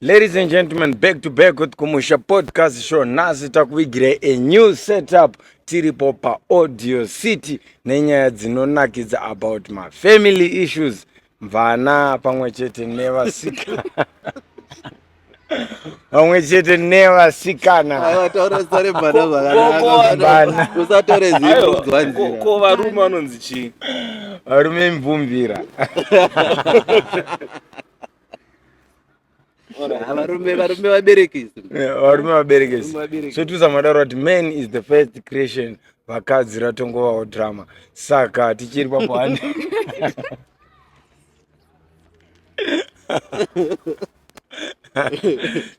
Ladies and gentlemen, back to back with Kumusha Podcast Show. Nhasi takuvigirai a new setup tiripo paAudio City nenyaya dzinonakidza about my family issues mvana pamwe chete nevasikana pamwe chete nevasikanausatorezarebanausatorezikovanzirako varume vanonzi chii varume imvumvira varume varume vaberekesi Yeah, varume vaberekesi Varume vaberekesi. sotiza madaro kuti man is the first creation vakadzi ratongovawo drama saka tichiri papo hani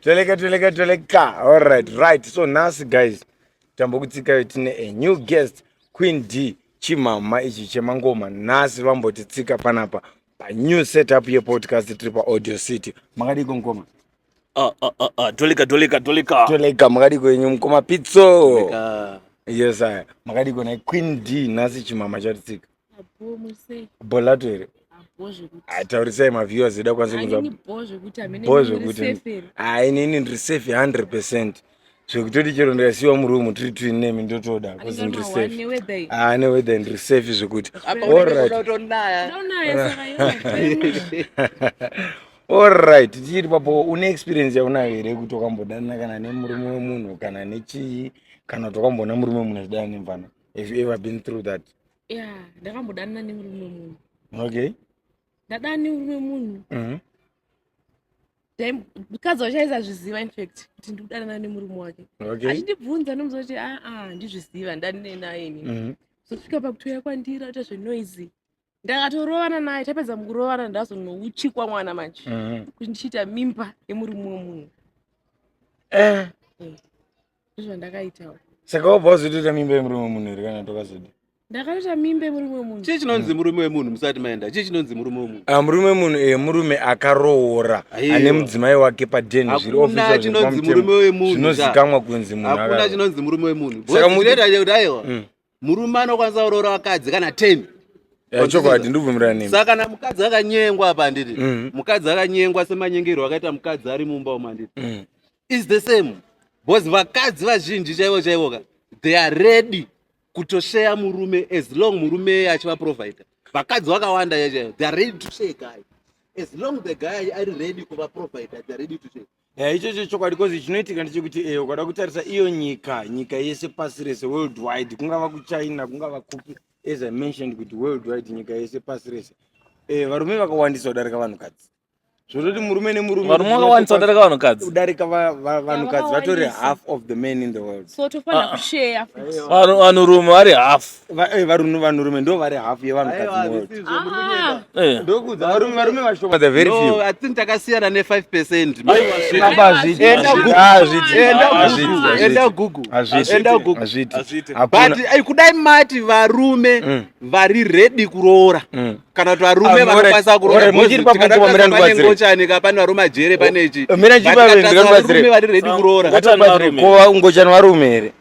toleka toleka toleka alright right so nhasi guys tambokutsikayo tine a new guest queen d chimama ichi chemangoma nhasi vambotitsika panapa panew setup yepodcast tiri paaudio city makadiko mukoma Ah, ah, ah, ah, tolika tolika tolika toleka makadiko yenyu mukoma pitso Tolika. yes aya makadiko nai queen d nhasi chimama chatitsika Abho muse, bho lato here abho zvekuti. ataurisai maviewers edu akwanise kunzwa Hainini bho zvekuti hamene Bho miri zvekuti- safe here? Ah, inini ndiri safe 100 zvekutoti chero ndikasiyiwa muroom tiri tiri nemi ndotoda bcause ndiri safe ah neweather ndiri safe zvekuti allright tichiri papo une experience yaunayo here kuti wakambodanana kana nemurume wemunhu kana nechii kana kuti wakamboona murume wemunhu achidana nemvana have you ever been through that ya ndakambodanana nemurume wemunhu okay ndadana nemurume wemunhu mhm. mukadzi wacho aisazviziva infact kuti ndikudanana nemurume wake achindibvunza nomuza kuti aa ah, ah, ndizviziva ndanine naye ini mhm. zosvika pakutouya kwandira ita zvenoisy ndakatorovana naye tapedza mukurovana ndazonouchikwa mwana manje mhm. kuti ndichiita mimba yemurume wemunhu eh. eh. ndozvandakaitawo saka wabva wazotoita mimba yemurume wemunhu here kana tokazodi ndakaita mimba yemurume wemunhu chii chinonzi murume wemunhu musati maenda chii chinonzi murume wemunhu Ah, murume munhu eh, murume akaroora Aiwa. ane mudzimai wake paden zviri Hakuna official zvinhu chinonzi pamutemo. murume wemunhu, zvinozikamwa kunzi munhu hakuna akaro- chinonzi murume wemunhu Saka Boss, muti- zvinoita kuti aiwa Mm. murume anokwanisa kuroora vakadzi kana 10 eh, chokwadi ndibvumirana nemi saka kana mukadzi akanyengwa apa handiti mm. mukadzi akanyengwa semanyengerwo akaita mukadzi ari mumba umu handiti mm. is the same bcause vakadzi vazhinji chaivo chaivo ka they are ready kutosheya murume as long murume eye achivaprovider vakadzi vakawanda chaivo they are ready to share guy as long the guy ari ready kuvaprovider they are ready to share eya eh, ichocho chokwadi bcause chinoitika ndechekuti e ukada kutarisa iyo nyika nyika yese pasi rese world wide kungava kuchina kungava kupi as i mentioned kuti world wide nyika yese pasi rese e varume vakawandisa kudarika vanhukadzi zvototi murume nemurume varume vakawandisa kudarika vanhukadzi kudarika vanhukadzi vatori half of the man in the world ah, ah. vanhurume vari half Eh, varunhu vanhurume ndo vari hafu yevanhukadzi ah. eh. ndokuudzarume varume vashoma the very few i think takasiyana ne 5 percent enda gugu enda gugu but eh, kudai mati varume mm. vari ready kuroora mm. kana kuti varume ah, vanokwanisa kurooraaangochanika pane varume ajere panechi oh, varume vari ready kuroora ngochani varume here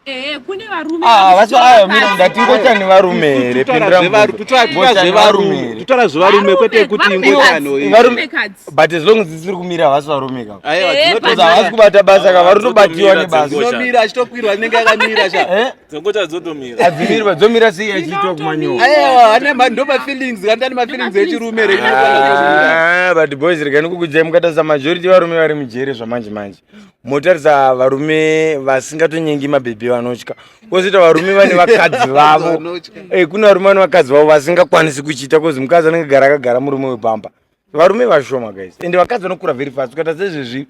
Eh, kune varume ah, vacho ayo mira ndatingoita nevarume here pindiramutotara zvevarume kwete kuti ingotanvarume but as long as dzisiri kumira havasi varume ka eh, havasi kubata basa ka vari tobatiwa nebasainomira achitokwirwa anenge akamira chaadzomira dzomira sei achiitwa kumanyowandobafeelings kandani mafeelings echirume ah, but boys rekani kukudzai mukatasa majority varume vari mujere zvamanje manje motaridza varume vasingatonyengi mabhebhi vanotya kozoita varume vane vakadzi vavo eh, kune varume vane vakadzi vavo vasingakwanisi kuchiita kozi mukadzi anenge gara akagara murume wepamba varume vashoma guys ende vakadzi vanokura very fast ukaita sezvezvi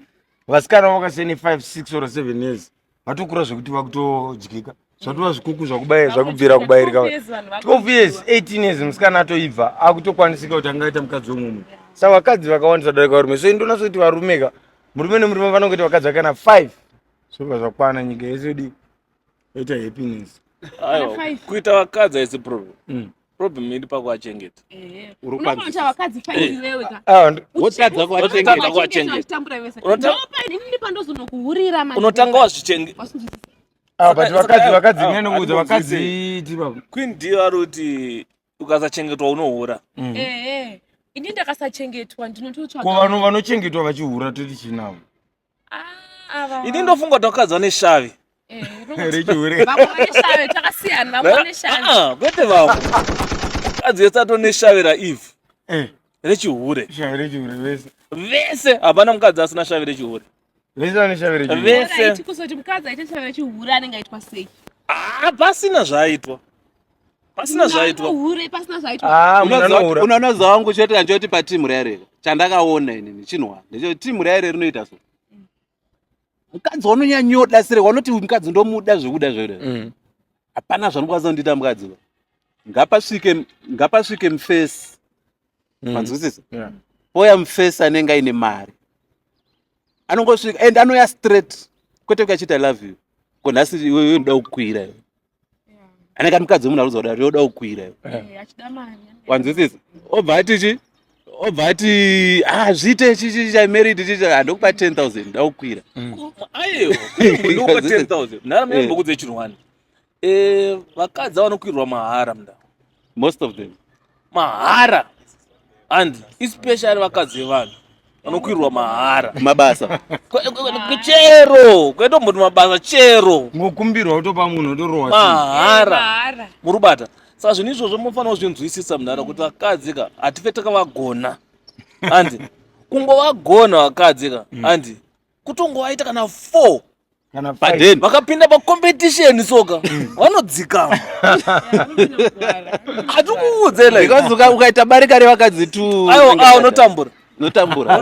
vasikana vakasiyana 5 6 or 7 years vatokura zvekuti vakutodyika zvatova zvikuku zvakubaya zvakubvira kubayirika 12 years 18 years musikana atoibva akutokwanisika kuti angaita mukadzi wemumwe sa vakadzi vakawandisa darika varume so indonaso kuti varume ka murume nemurume vanongoita vakadzi vakana 5 zvobva zvakwana nyika yese yodi yoita happiness kuita vakadzi haisi problem mm problem iri pakuachengeta urikwanzisaotadza kuachengeta unotanga wazvichengeta Ah, but vakadzi vakadzi ah, nyane kuudza vakadzi ti baba. Queen deal ari kuti ukasachengetwa unohura. Mm. Eh eh. Ini ndakasachengetwa ndinototsvaga. Ko vanhu vanochengetwa vachihura toti chinavo. Ah ava. Ini ndofunga kuti vakadzi vane shavi. Eh. Rechihure. Vamwe vane shavi takasiyana vamwe vane shavi. Ah kwete vamwe. Vakadzi vese atone shavi ra Eve. Eh. Rechihure. Shavi rechihure vese. Vese hapana mukadzi asina shavi rechihure. vese vanoshavira chihura vese haiti kuzoti mukadzi aita chavira chihura anenge aitwa sei Ah, pasina zvaaitwa pasina Munhu zvaitwa anohure pasina zvaitwa Ah, munhu anohura unoona zvangu chete kanchoti patimu raya rere chandakaona inini chinwa ndechoti timu raya rere rinoita so mukadzi wanonyanyoda sere wanoti uyu mukadzi ndomuda zvekuda zvere Mm. hapana zvanokwanisa kundiita mukadzi uyu. ngapasvike ngapasvike mufesi mm. manzwisisa yeah. poya mfesi anenge aine mari anongosvika and anoya straight kwete kuachita love you ko nhasi iwewe unoda kukwira iwe anenge ari mukadzi wemunhu aruzauda kuti yoda kukwira iwe eh, wanzwisisa obva ati chi obva ati ah zviite chichi chai married chichi handokupa ah, 10000 ndakukwira mm. ayo ndokupa 10000 nharambe mbokudze chinhu wani Eh, vakadzi vanokwirwa mahara mda most of them mahara and especially vakadzi vevanhu vanokwirwa mahara mabasa Kwe- kwe- kwe- chero kwetomboti mabasa chero ngokumbirwa kutopa munhu otorowa mahara Mahara. muri kubata saka zvinhu izvozvo munofanira kuzvinzwisisa mudhara kuti vakadzi ka hatife takavagona handi kungovagona vakadzi ka handi kutongovaita kana four paden vakapinda pacompetition soka mm. vanodzikama hatikuudzela ukaita barika revakadzi tu aiwa unotambura notambura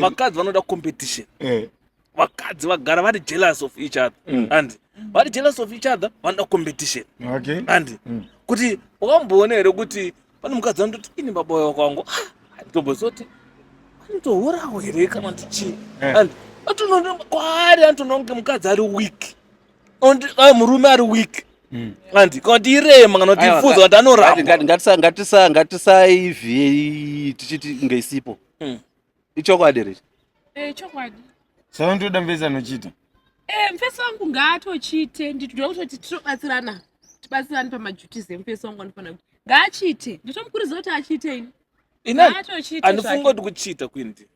vakadzi vanoda competition eh. vakadzi vagara vari jealous of each other mm. and vari jealous of each other vanoda competition okay. and mm. kuti wakamboona here kuti pane mukadzi anototi ini baba uyo kwangu anitobozoti ah, anotohorawo here kana kuti chii eh. and atono kwaari anotoona kunge mukadzi ari weak and ah, murume ari weak mm. and kana kuti irema kana kuti ifuza kuti anoramba ngatisaiviei tichiti ngeisipo mm. ichokwadi here eh, chokwadi saka ndoda mvese anochiita eh, mfesi wangu ngaatochiite nditoda kutoti titobatsirana tibatsirane pamajutis emfesi wangu anofanira kuti ngaachiite nditomukurudzira kuti achiite ini inoandifunga kuti kuchiita kwindi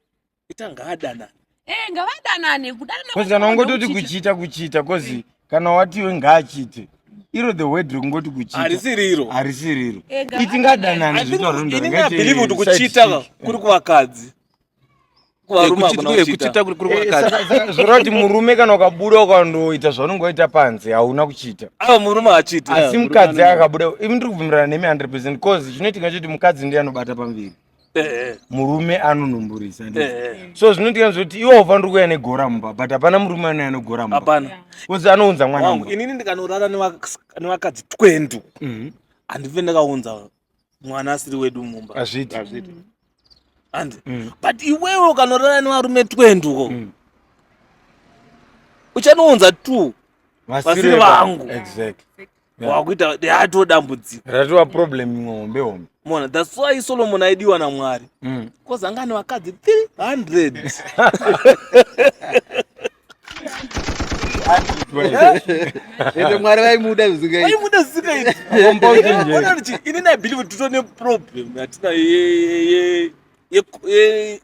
ita ngaadanane eh, ngavadanane kudanana kana ungototi kuchiita kuchiita kozi kana watiwe ngaachite iro the word rekungoti kuchitaharisiriro harisiriro itingadanani zvitaurobelieve kuti kuchita kuri kuvakadzi kuchita kuri kuvakadzi zvoreva kuti murume kana ukabuda ukandoita zvaunenge waita panze hauna kuchita ava murume achiti asi mukadzi akabuda imi ndiri kubvumirana nemi 100 percent bcause chinoitika choti mukadzi ndiye anobata pamberi eh. murume anonumburisa eh, eh. so zvinodikanwa zvekuti iwe haufaniri kuuya negora mumba but hapana murume anouya anegora mumba hapana bcause anounza mwana wangu inini ndikanorara nevakadzi twendu mhm. handive ndakaunza mwana asiri wedu mumba hazviti handi mm. but iwewe ukanorara nevarume twendu ko mm. uchanounza two vasiri vangu exactly Yeah. wakuita yatoo dambudziko ratova problem imwe hombe hombe mona thats why solomon aidiwa namwari Mm. bcause anga ane vakadzi 300 ende mwari vaimuda zvisingaiti aimuda zvisingaiti Compound nje. Ona kuti ini nabelieve kuti titone problem yatina ye- ye- ye- ye- ye-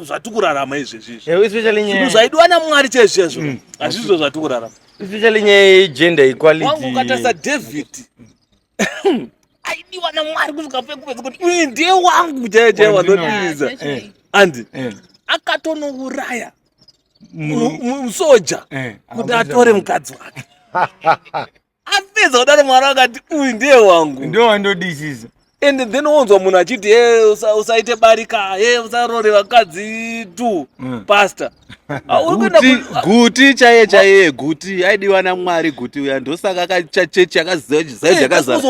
zvatikurarama izvezvizvozvinhu zvaidiwa namwari chezvezvo mm. hazvizvo zvatikurarama especially nyaya yegender equality wangu ukatarisa david aidiwa namwari kusvika pekupedza kuti uyu ndiye wangu chaiye chaiye wanodiridza andi eh. akatonouraya musoja eh. kuti atore mukadzi wake apedza kudaro mwari akati uyu ndiye wangu ndo wandodisisa and then wonzwa munhu achiti he usaite barika he usarore vakadzi tu mm. pastor ah, guti chaiye chaiye guti aidiwa namwari guti uya ndosaka kachechi akaziva chizayo chakazaa eh,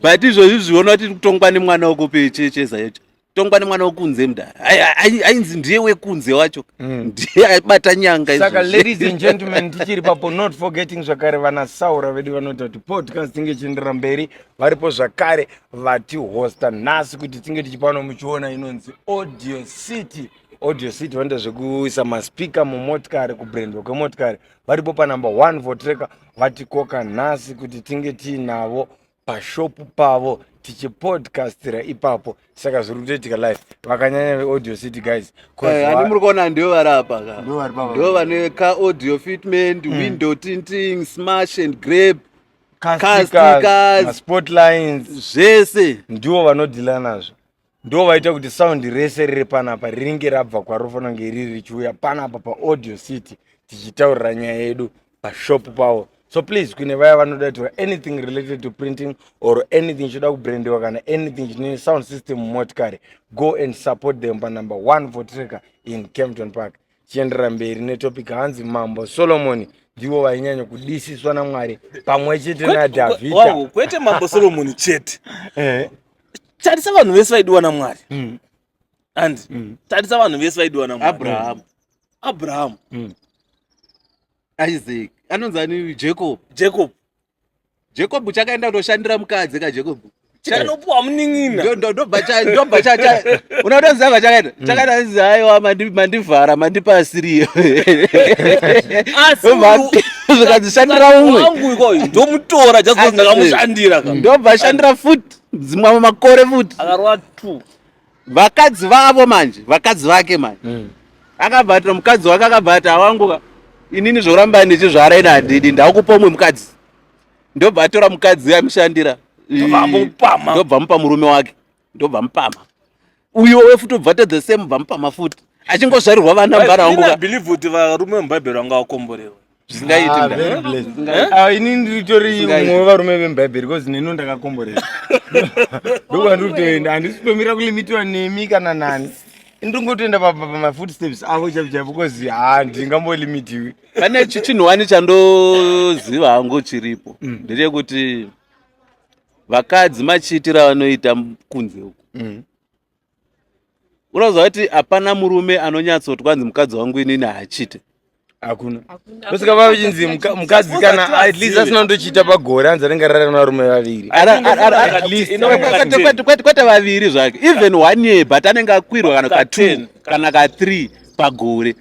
but izvozvi zviona kuti kutongwa nemwana wekupi cheche zayocho tongwa nemwana wekunze mda ainzi ndiye wekunze wacho mm. ndiye aibata nyanga saka ladies and gentlemen tichiri papo not forgetting zvakare vana saura vedu vanoita kuti podcast tinge ichienderera mberi varipo zvakare vatihosta nhasi kuti tinge tichipano muchiona inonzi audio city audio city vanoita zvekuisa maspika mumotikari kubrandwa kwemotikari varipo panumber one for tracker vatikoka nhasi kuti tinge tiinavo pashopu pavo tichipodcastira ipapo saka zviri kutoitika life vakanyanya veaudio city guys eh, ani muri kuona ndivo vari apa ka ndivo vane ka audio fitment mm. window tinting smash and grape casticas spotlines zvese ndivo vanodhila nazvo ndo vaita kuti sound rese riri panapa ringe rabva kwarofana kunge riri richiuya panapa paaudio city tichitaurira nyaya yedu pashop pavo so please kune vaya vanoda kutaura anything related to printing or anything chinoda kubrandiwa kana anything chine sound system mumotikari go and support them panumber 1 for tracker in campton park chienderera mberi netopic hanzi mambo solomoni ndivo vainyanya kudisiswa namwari pamwe chete nadhavhidha kwete mambo solomoni chete eh. tarisa vanhu vese vaidiwa namwari mm. and mm. tarisa vanhu vese vaidiwa namwari abrahamu abrahamu mm. isaac anonzi ani jacob jacob jacob chakaenda kutoshandira mukadzi ka jacob chanopuwa munin'ina ndobva unotoziva vachakaita mm. chakaita zizi aiwa mandivhara mandipa asiriyo zvikazishandira umwe ikoyo ndomutora jazondakamushandira ndobva ashandira futi dzimwe makore futi akarova two vakadzi vavo manje vakadzi vake manje mm. akabva ati nomukadzi wake akabva ati awanguka inini zvoramba ndichizvara ini handidi ndakupa umwe mukadzi ndobva atora mukadzi amushandira ndobva mupa murume wake ndobva mupama uyo we futi ubva tedhe same bva mupama futi achingozvarirwa vana mbara wanguka believe kuti varume mubhaibheri vanga vakomborewa zvisingaiti Ah, mda. very blessed. Zvisingaiti. Ah, ini nditori Zvisingaiti. mumwe wevarume vemubhaibheri bcause neni ndakakomborera ndokuva ndiri kutoenda handisi kutomira kulimitiwa nemi kana nani ndingotoenda pa- pa- pamafoot steps avo chaipo chaipo bcause ha ndingambolimitiwi pane chi- chinhu wani chandoziva hangu chiripo ndechekuti vakadzi machiitira vanoita kunze uku Mm. unoziva kuti hapana murume anonyatsoti kwanzi mukadzi wangu inini haachite hakuna osvika vavachinzi mukadzi kana at least asina ndochiita pagore anzi anenge arara nevarume vaviri kwete vaviri zvake even one year but anenge akwirwa kana ka ten kana ka three pagore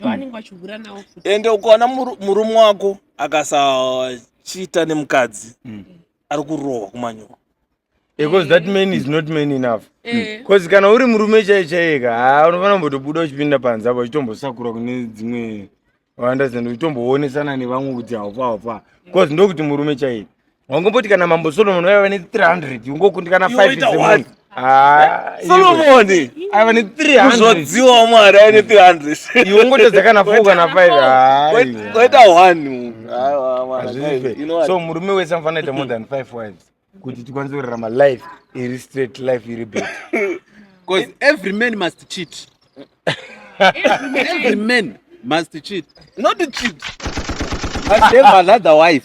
ndoanenge vachihura navo futi ende ukaona muru- murume wako akasachiita nemukadzi Mm. ari kurohwa kumanyoro because that man is not man enough Eh, because kana uri murume chaiye chaiye ka haa unofanira kumbotobuda uchipinda panze apo uchitombosakura kune dzimwe understand uchitomboonesana nevamwe kuti haufa haufa because ndokuti murume chaiye Wangomboti kana mambo Solomon vaiva ne 300 ungokundika kana 5 dzemunhu. Ah, Solomon aiva ne 300. Uzodziwa mwari aiva ne 300. Iwe ungotodza kana 4 kana 5. Waita 1. Aiwa mwana. So murume wese anofanira kuita more than 5 wives kuti tikwanise kurarama life iri straight life iri better. Because every man must cheat. every man must cheat. Not cheat. But never another wife.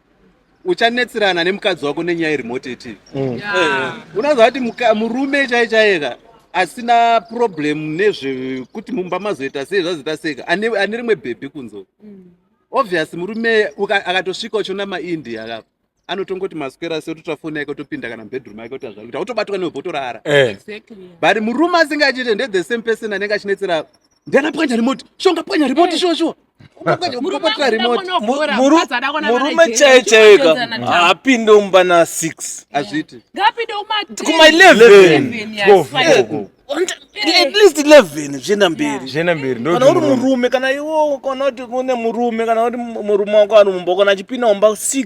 uchanetsirana nemukadzi wako nenyaya iri moteti mm. eh, unoziva kuti murume chai chaika asina problem nezvekuti mumba mazoita sei zvazoita seka ane rimwe bhebhi kunzo mm. obvious murume akatosvika uchiona maindia akapa anotongoti maswera se ototora foni yake otopinda kana mubedroom yake oti azvakuita otobatwa newe botorara eh. but murume asingachite ndethe same person anenge achinetsera ndiana pwanya remote shonga pwanya remote shuwa shuwa murume chaiye chaika haapinde umba na 6 azviti ngapinde kuma 11 at least 11 zvienda mberi zvienda mberi kana uri murume kana iwo kana kuti une murume kana kuti murume wako ari mumba kana achipinda umba 6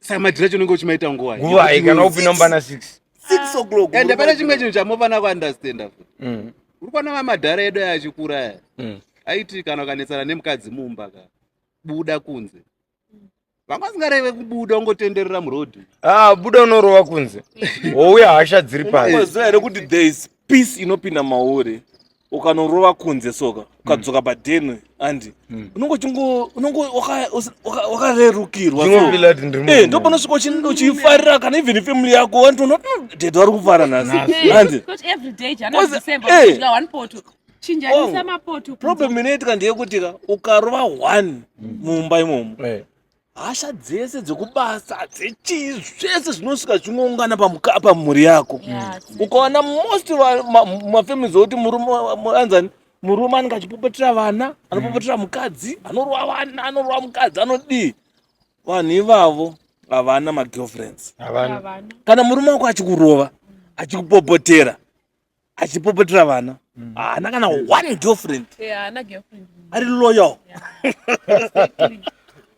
saka madhira chinenge uchimaita nguva nguva ikana upi nombana six six o'clock and hapana chimwe chinhu chamofana kuunderstanda futi mm. uri kuona mamadhara edu aya achikura aya mm. aiti kana ukanetsana nemukadzi mumba ka buda kunze vanga vasingareve kubuda ungotenderera murodhi ah, buda unorova kunze wouya hasha dziri pasi here kuti there is peace inopinda mauri ukanorova kunze soka mm. ukadzoka padeni andi mm. unonge uchingo unonge wakarerukirwa eh, ndo panosvika uchifarira kana even ifamily yako wantoona mm, dede vari kufara nhasi andi problem inoitika ndeyekutika ukarova one mumba imomo eh. hasha dzese dzekubasa dzechii zvese zvinosvika zvichingoungana pamhuri yako ukaona most mafamili zvokuti murume anzani murume anenge achipopotera vana anopopotera mukadzi anorova vana anorova mukadzi anodii vanhu ivavo havana magirlfriends kana murume wako achikurova achikupopotera achipopotera vana mm. haana kana one girlfriend ari loyal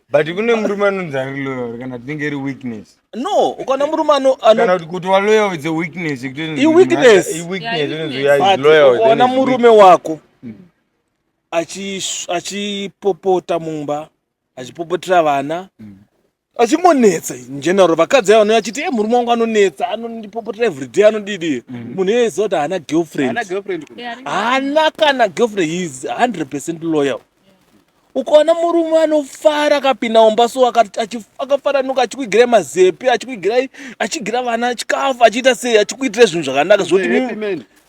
but kune murume anonzi ari loyal kana tinenge iri weakness no ukana murume anokana kuti kuti waloyal is a weakness iweaknessweaknessona murume wako mm. achipopota mumba achipopotera vana achimonetsa njenaro vakadzi ava vanouya achiti e murume wangu anonetsa anondipopotera everyday anodidi munhu iye aiziva kuti haana girlfriend Haana girlfriend kuno. Yeah, haana kana girlfriend he is 100 percent loyal ukaona murume anofara akapinda mumba so akati- achi- akafaranuka achikuigirai mazepi achikuigirai achigira vana chikafu achiita sei achikuitira zvinhu zvakanaka zvoti Happy mimi- man.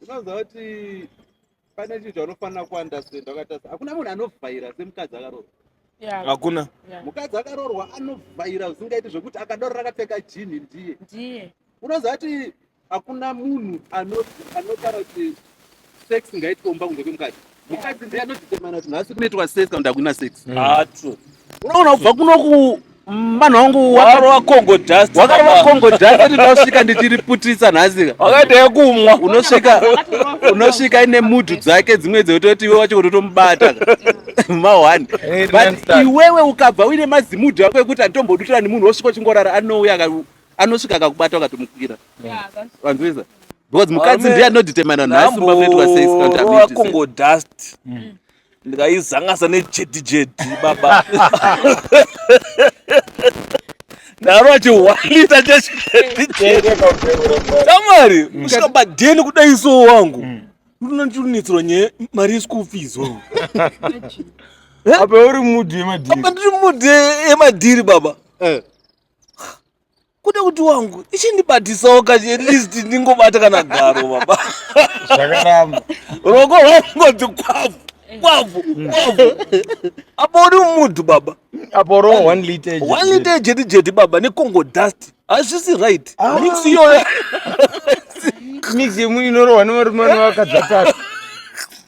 unoziva kuti pane chinhu chaunofanira kuandastenda wakatarisa hakuna munhu anovhaira semukadzi akaroorwa hakuna mukadzi akaroorwa anovhaira zvisingaiti zvekuti akadaro rakapfeka jinhi ndiye ndiye unoziva kuti hakuna munhu anotaura kuti sex ngaitwe mumba kunze kwemukadzi mukadzi ndiye anotitemana kuti nhasi kunoitwa sex kana ndakuina sex mm. ah, unoona kubva kunoku vanhu vangu wakarova congo dust wakarova congo dust ati ndasvika ndichiriputisa nhasika wakaita yekumwa unosvika unosvika ine mudhu dzake dzimwe dzekutoti iwe wacho kutotomubata mahwani but iwewe ukabva uine mazimudhu ako ekuti anditombodutirani munhu wosvika uchingorara anouya anosvika akakubata akatomukwira vanzwisa because mukadzi ndiye anodetermina nhasi mbakuitwa seikongo dust mm. ndikaizangasa nejedi jedi baba ndaro achihwalita cheshamwari mm. kusvika badeni kudai so wangu mm. ndinonditunitsirwa nye mari yeschool fees wangu apa uri mudhi yemadhiri apa ndiri mudhi yemadhiri baba eh. kuda kuti wangu ichindibatisawo kati at least ndingobata kana garo baba zvakaramba roko rwangoti kwavu kwavu kwavu apo uri mudhu baba apo ro one liter one liter jeti jeti baba necongo dust hazvisi right ah. mix iyoyo mix yemwe inorohwa nevarume vanevakadzi vatatu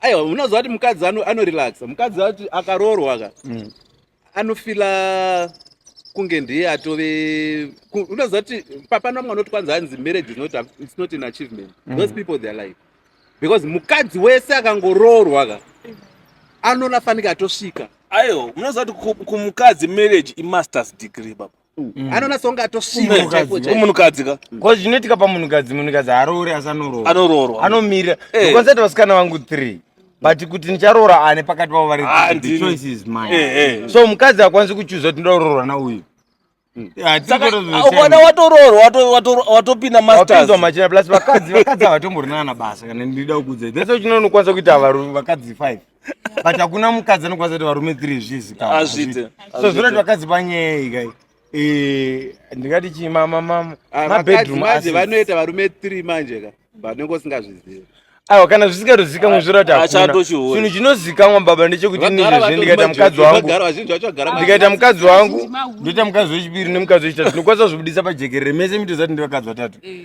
aiwa unoziva kuti mukadzi anorelaxa mukadzi ati akaroorwa ka mm. anofila kunge ndiye atove unoziva kuti papana vamwe vanoti kwanzi hanzi marriage is not, it's not an achievement mm. those people their life because mukadzi wese akangoroorwa ka anonafanika atosvika aiwa unoziva kuti kumukadzi marriage imasters degree baba Mm. anona songa atosimunhukadzi ka ko zvinoitika pamunhukadzi munhukadzi aroore asi anoroora anoroorwa anomirira eh. konsati vasikana vangu three but kuti ndicharoora ane pakati pavo vari ah, choice is mine eh, eh. so mukadzi akwanisi kuchuza kuti ndoda kuroorwa nauyu ukada watoroorwa watopinda mastapinzwa machina plus vakadzi vakadzi havatomborina kana basa kana ndida kukudzai thats why chinonokwanisa kuita vakadzi five but hakuna mukadzi anokwanisa kuti varume three zvizikamazvite so zvinoti vakadzi panyei kai eh, ndingati chii mamamamabedroom ah, vanoita varume three manje ka vanenge usingazvizivi aiwa kana zvisikatozikamwe zviratiachinhu chinozikamwa baba ndechekuti inizvezve ndikaita mukadzi wangu ndikaita mukadzi wangu ndoita mukadzi wechipiri nemukadzi wechitatu ndinokwanisa zvibudisa pajekerere mese mitozati ndivakadzi vatatu eh.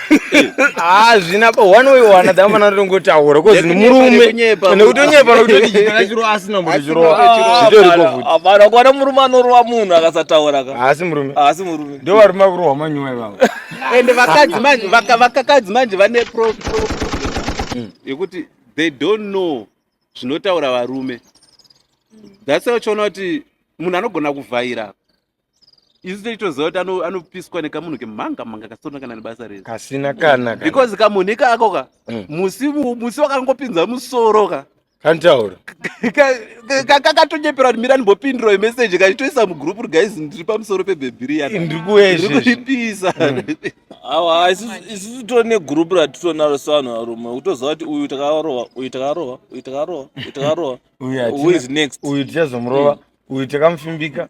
hazvina ah, pa one way or another amana ringotaura kozi ni murume nekutonyepa nekuti kana chiro asina mbuzi chiro hapana kuona murume anorowa munhu akasataura ka haasi murume haasi murume ndo varume vakurohwa manyuwa ivavo ende vakadzi manje vakakadzi manje vane pro hmm. yekuti they don't know zvinotaura varume that's why uchiona kuti munhu anogona kuvhaira isu tichitoziva kuti anopiswa nekamunhu kemhanga mhanga kasina kana nebasa rese kasina kana because kamunhu ikako ka mm. musi musi wakangopinza musoro ka kantaura kakatonyepera kuti mira ndimbopindira imeseji kachitoisa mugroup ri guys ndiri pamusoro pebhebhi riyanndiri kuezviripisa mm. awa isusu to negroup ratitonaro sevanhu varume kutoziva kuti uyu takarova uyu takarova uyu takarova uyu takarova uyu is next uyu tichazomurova mm. uyu takamufimbika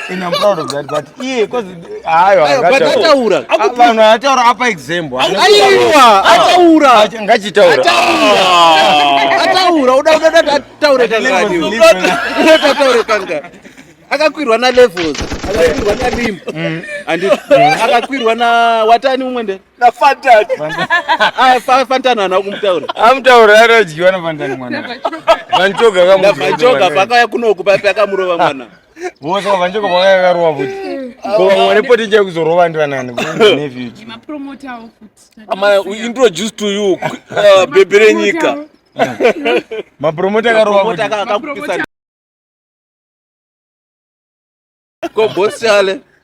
And I'm proud of that, but yeah, because ayo akataura. Vanhu ataura apa example. Aiwa, ataura. Ngachitaura. Ataura, uda uda uda ataura kangani. Uda ataura kangani. Akakwirwa na levels. Akakwirwa na rim. Mm. And akakwirwa na watani umwe nde? Na fantan. Ah, fantan ana kumutaura. Amutaura anodyiwa na fantan mwana. Vanchoga kamuti. Vanchoga pakaya kunoku papi akamurova mwana. vose vavanjeko vakakarowa futi kovamwane poti chai kuzorova ndivanani introduce to you uh, bebe renyika mapromota akarowa ko bosi ale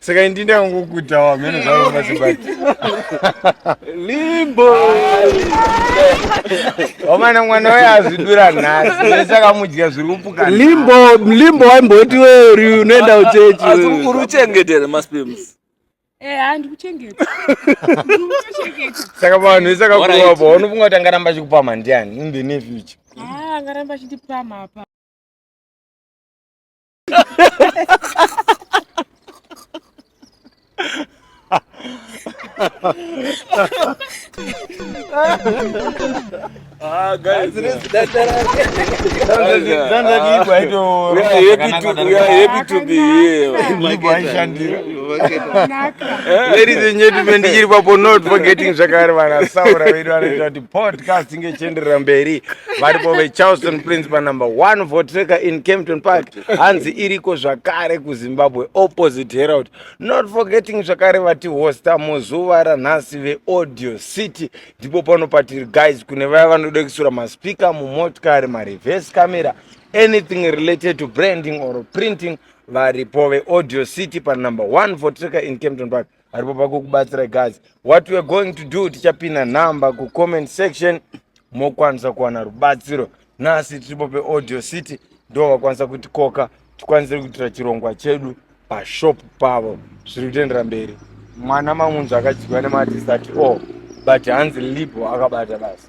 saka indi ndakangokuta wamene zvavo mazibati limbo wamana mwana waye azvidura nhasi ese akamudya zviri kupuka limbo limbo waimboti weuri unoenda uchechi asi uri uchengetere maspims eh, saka vanhu vese akakurowa pa unofunga kuti angaramba achikupama ndiani in the near future ah, angaramba achindipama apa Ah, guys, we are happy to we are happy to be here. Ladies and gentlemen, ndikiri papo not forgetting zvakare vana saura vedu vanoita kuti podcast chinge chienderera mberi varipo vecharleston prince panumber one votreka in campton park hanzi iriko zvakare kuzimbabwe opposite herald not forgetting zvakare vati hosta muzuva ranhasi veaudio city ndipo pano patiri guys kune vaya vanoda kusura maspika mumotikari mareverse camera anything related to branding or printing varipo veaudio city panumber one votreka in campton park aripo pakukubatsira guys what weare going to do tichapinda number kucomment section mokwanisa kuwana rubatsiro nhasi tiripo peaudio city ndo vakwanisa kuti koka tikwanise kuitira chirongwa chedu pashop pavo zviri kutoendera mberi mwana mamunzva akadyiwa nemadisati o oh, but hanzi libo akabata basi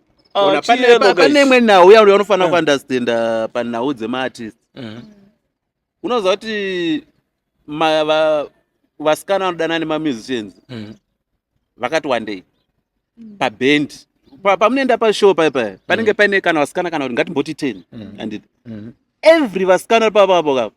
Ah, Ona, pane- chiyero, pa- guys. pane imwe nhau yauri unofanira Eh. kuunderstanda panhau dzemaartist Mhm. unoziva kuti ma- va- vasikana vanodana nemamusicians Mhm. vakati wandei pabhendi Pa- pamunoenda pashow paya paya panenge paine kana vasikana kana kuti ngatimboti ten Mhm. anditi Mhm. every vasikana vari papapo kapo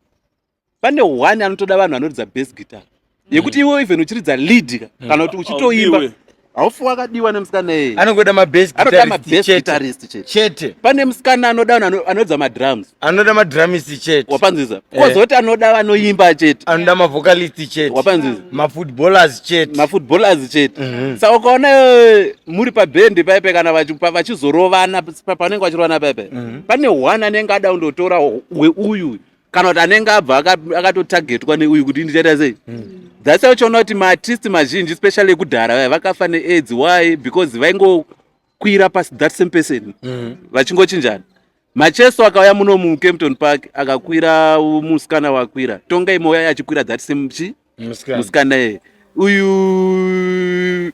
pane one anotoda vanhu vanoridza best guitar mm. yekuti iwe even uchiridza lead ka mm. kana kuti uchitoimba haufi wakadiwa nemusikana eye anongoda mabestanoda mabest guitarist chete chete pane musikana anoda vanhu anoridza madrums anoda madrumist chete wapanziza eh. kozoti anoda vanoimba chete anoda mavocalist chete wapanziza mafootballers chete mafootballers chete mhm. sa ukaona eh, muri pabhendi paipe kana vachizorovana panenge vachirovana paipe mhm. pane one anenge ada kundotora weuyu kana kuti anenge abva akatotargetwa neuyu kuti ndichaita sei that's why uchiona kuti maartist mazhinji especially ekudhara vaya vakafa neaids why because vaingokwira pasi that same person mm. vachingochinjana macheso akauya muno mucampton park akakwira musikana wakwira tongai mouya achikwira that same chi musikana yeye uyu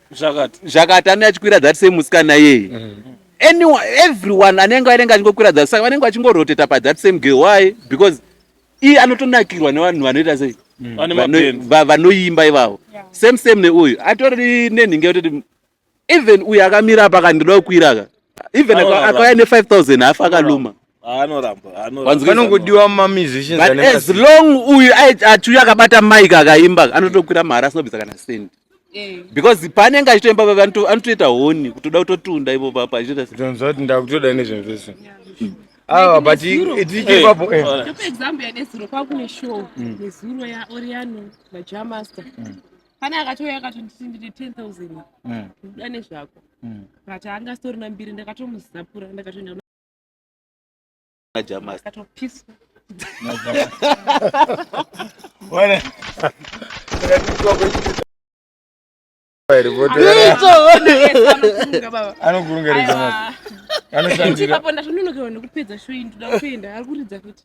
zvakati anenge achikwira that same musikana yeye mm. anyone everyone anenge anenge achingokwira that saka vanenge vachingoroteta pa that same girl why because iye anotonakirwa nevanhu vanoita sei mm. vanoimba ivavo same same neuyu atori nenhinga yototi even uyu akamira apa akandiroda kukwira ka even akauya ne 5000 hafa akaluma vanongodiwa mamusicians but as long uyu achiuya akabata mike akaimba anotokwira mahara asinobvisa kana sendi eh. because paanenge achitoimba papa anotoita honi kutoda kutotunda ipo papa achitoitaati ndakutoda nezvinhu zvese awa but tichipapo eh. eh. example yanezuro kwakuwe show mm. nezuro yaoriano majamaster mm. pane akatouya akatonditi ndine 10000 mm. uda nezvako mm. but anga asitorina mbiri ndakatomuzapura ndakatoenda akatopiswa anokurungarizaapo ndatononokewa nekupedza shoyi ndoda kuenda ari kuridza kuti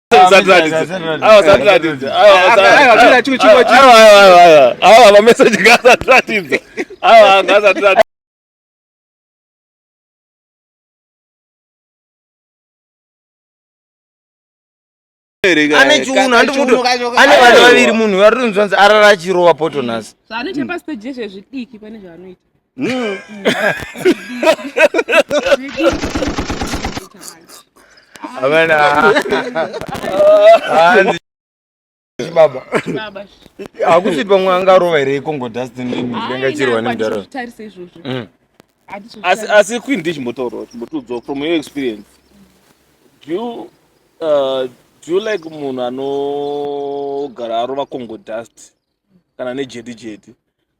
awa mameseji ngaasatiratidza awa ngaasatiratidza ane chiuno handimuti ane vana vaviri munhu vari rinzwanzi arara achirova potonasi Mm. chibaba hakusi pamwe angarova here ikongo dustinenga chirwa nemudhara mm. asi queen ndichimbotaurawo chimbotiudzwa from your experience do you, uh, do you like munhu anogara arova congo dust kana nejedi jedi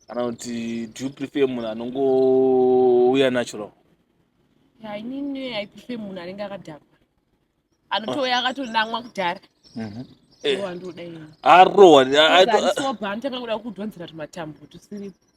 kana kuti do you prefer munhu anongouya natural yeah, inini i prefer munhu anenge akadhakwa anotouya akatonamwa kudhara mhm. eh. arowa anotanga kuda kudhonzera tumatambo tusiripo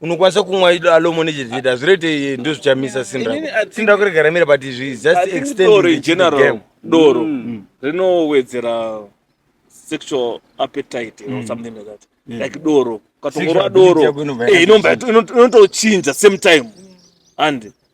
unokwanisa kumwa alomo nechezvita hazvireite ndo zvichamisa simba simba kuregara mira but izvi just extendore general doro mm. mm. rinowedzera sexual appetite or mm. something like that like doro ukatongorwa doro eh, inotochinja same time and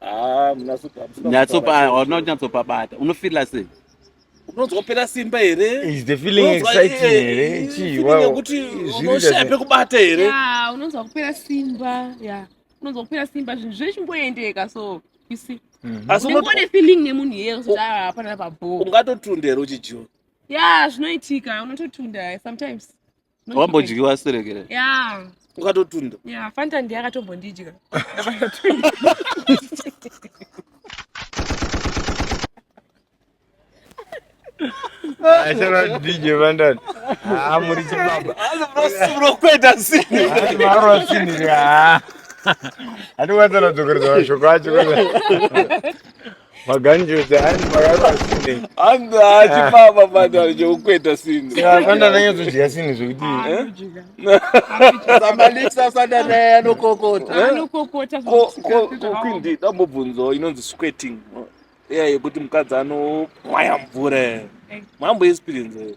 Ah, nyatsopaunonyatsopabata unofila sei unonzwapera simba hereunonzwayekuti unoshaye pekubata here unonzwa kupera simba ya unonzwa kupera simba zvinhu zvechingoendeka so isi mhm. asiune feeling nemunhu iye kuti ah, hapana pabho ungatotunda here uchijiwa ya zvinoitika unototunda sometimes wambodyiwa sirekere ya ukatotunda ya fanta ndiye akatombondidya Ashara DJ Vandani. Ah, muri chibaba. Murokweta sini. Maro sini ka. Ati wadzana dzokeredza mashoko acho. Maganjuzi ani makaka sine. Anda Ah. achipapa pati arichokukweta sini. Saka kanda nanyadzodya sine zvekuti Anodya. Samalisa sanda naye anokokota. Eh? Anokokota Ko ko zvakasiyana. ko kwindi dambobvunzo inonzi squirting. Iya yekuti mukadzi anopwaya mvura. Mambo experience.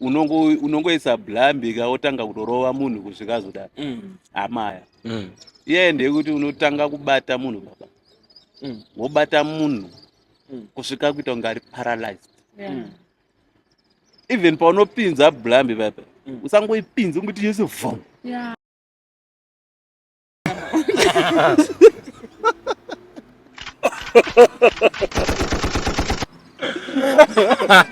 unongoisa blambika wotanga kutorova munhu kusvika zodaro mm. amaya mm. iyaye ndeyekuti unotanga kubata munhu baba mm. wobata munhu kusvika kuita kunge ari paralyzed even paunopinza blambi baba usangoipinzi unguti yese vom Ha ha ha ha!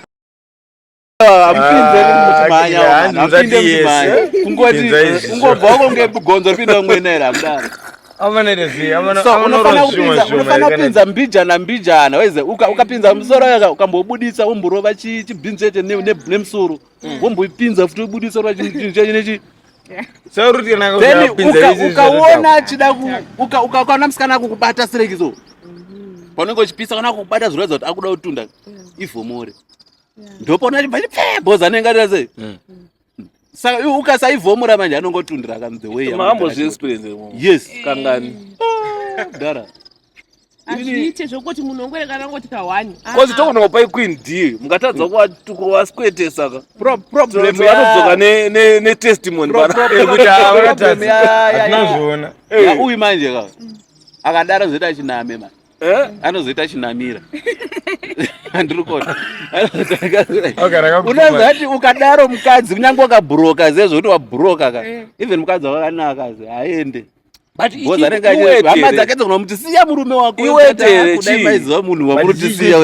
unofanira kupinza mbijana mbijana waize ukapinza musoro yaka ukambobudisa womborova chibhinzete nemusoro mm. womboipinza futi wobudisa rova chinechi ukaona achida ukaona musikana akukubata sirekiso mm-hmm. paunenge uchipisa kana akukubata zviroedza kuti akuda kutunda mm. ivhomore ndopona chibva chipfee bhoza anenge atira sei mm. saka ukasaivhomora manje anongotundira kani the way yes kangani ah, dara azviite zvokuti munhu ongwerekana ngoti kahwani kozi tokonaka pai queen d mukatadza kuwaskwetesa ka anodzoka netestimony panazviona uyu manje ka akadaro zvoita achiname manje Eh? anozoita chinamira handiri kuona unazati ukadaro mukadzi kunyange wakabhuroka zezvo kuti wabhuroka ka eh. even mukadzi wakanaka zi haende hama dzake dzogona kuti siya murume wakoaiziva munhu wamuri kuti siya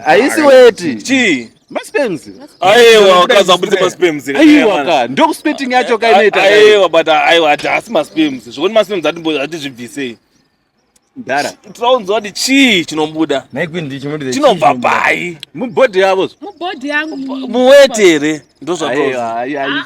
haisi weti chii Masperms. Aiwa ukazabudisa masperms. Aiwa ka ndokuspeting yacho ka inoita. Aiwa but aiwa asi masperms. Zvekuti masperms atizvibvisei. Dara. Tinounzwa kuti chii chinobuda. Naikwi ndicho chinobuda. Chinobva pai? Mubody yavo. Mubody yangu. Muweti here? Ndozvatozi. Aiwa aiwa.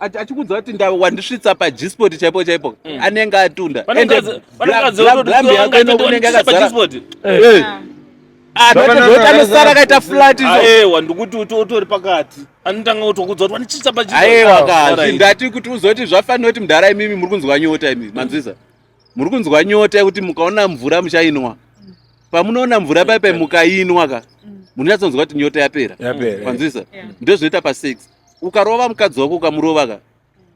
achikuudza kuti nda wandisvitsa pajisport chaipo chaipo mm. anenge atunda endeblambi yako inonge unenge akazara anosara akaita flat aewa ndikuti utori pakati anotanga kutokudza kuti wanichitsa pajisport aewa kazi ndati kuti uzoti zvafanira kuti mdhara imimi muri kunzwa nyota imimi manzwisa mm. muri kunzwa nyota yekuti mukaona mvura muchainwa pamunoona mvura paipai mukainwa ka mm. munyatsonzwa kuti nyota yapera kwanzwisa ndozvinoita pasex ukarova mukadzi wako ukamurova ka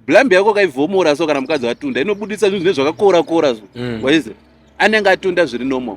blambi yako kaivhomora so kana mukadzi atunda inobudisa zvinhu zvine zvakakora kora zvo mm. waize anenge atunda zviri normal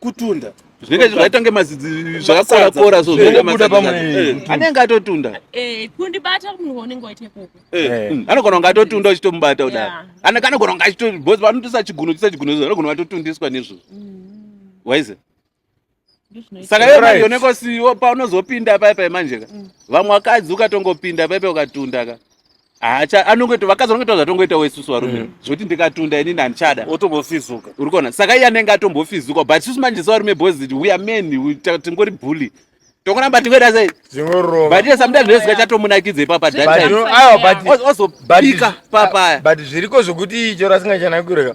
kutunda zvinenge zvakaita kunge mazidzi zvakakora kora so zvinenge mabuda pamwe eh, anenge atotunda eh kundibata munhu unenge waita ikoko eh, eh. Mm, anogona kunge atotunda uchitomubata kudai ana kana gona kunge achito boss vanotosa chiguno chisa chiguno zvo anogona vatotundiswa nezvo mm. waize saka iwe manje unenge usiwo paunozopinda paipai manje ka mm. vamwe vakadzi ukatongopinda paipai ukatunda ka hacha anongoita vakadzi vanoita zvatongoita wesusu varume mm. zvekuti ndikatunda inini handichada otombofizuka uri kuona saka iye anenge atombofizuka but susu manje sevarume boys we are men tingori bully tokuramba tingoita sei but iye sometimes zvezika chatomunakidza ipapa daaozobika papaya but zviriko zvekuti choro asingachanakireka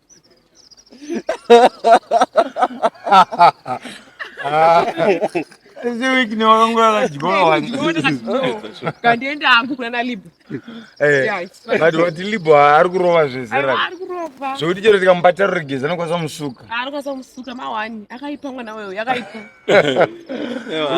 but vati libo ari kurova zvezera zvekuti chero tikamubata ruregezi anokwanisa musuka anokwanisa musuka mawani akaipa mwana weyo yakaipa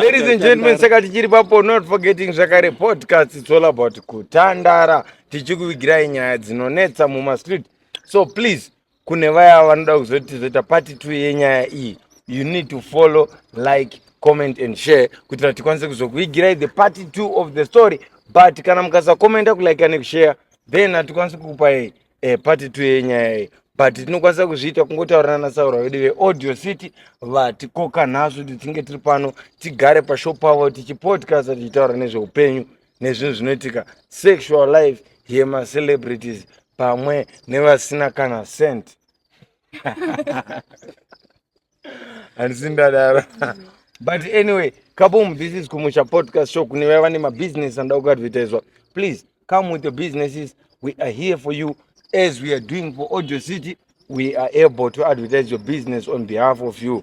ladies and gentlemen saka tichiri papo not forgetting zvakare podcast it's all about kutandara tichikuvigirai nyaya dzinonetsa mumastreet so please kune vaya vanoda kuzoti zoita pati two yenyaya iyi you need to follow like comment and share kuitira kuti tikwanise kuzokuigirai the part two of the story but kana mukasakomenta kulike nekushare then hatikwanisi kukupai eh, part two yenyaya iyi but tinokwanisa kuzviita kungotaurirana nasaura vedu veaudio city vatikoka nhasi kuti tinge tiri pano tigare pashop pavo tichipodcasta tichitaura nezveupenyu nezvinhu zvinoitika sexual life yemacelebrities pamwe nevasina kana cent handisi ndadaro but anyway kabom this is kumusha podcast show kune vaya vane mabusiness anoda kuadvertiswa please come with your businesses we are here for you as we are doing for audio city we are able to advertise your business on behalf of you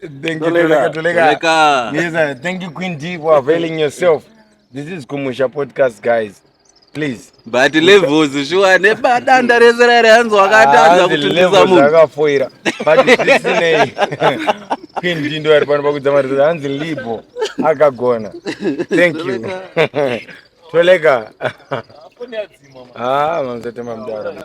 Thank you, Toleka, Toleka. Yes, uh, thank you, Queen D, for availing yourself. This is Kumusha Podcast, guys. Please. But levels, sure, neba danda rese rari hanzi wakatadza kutundisa munhu. Akafoira. But this name. Queen D ndo ari pano pakudza mari hanzi libo akagona. Thank you. Toleka. Ah, mamzete mamdara.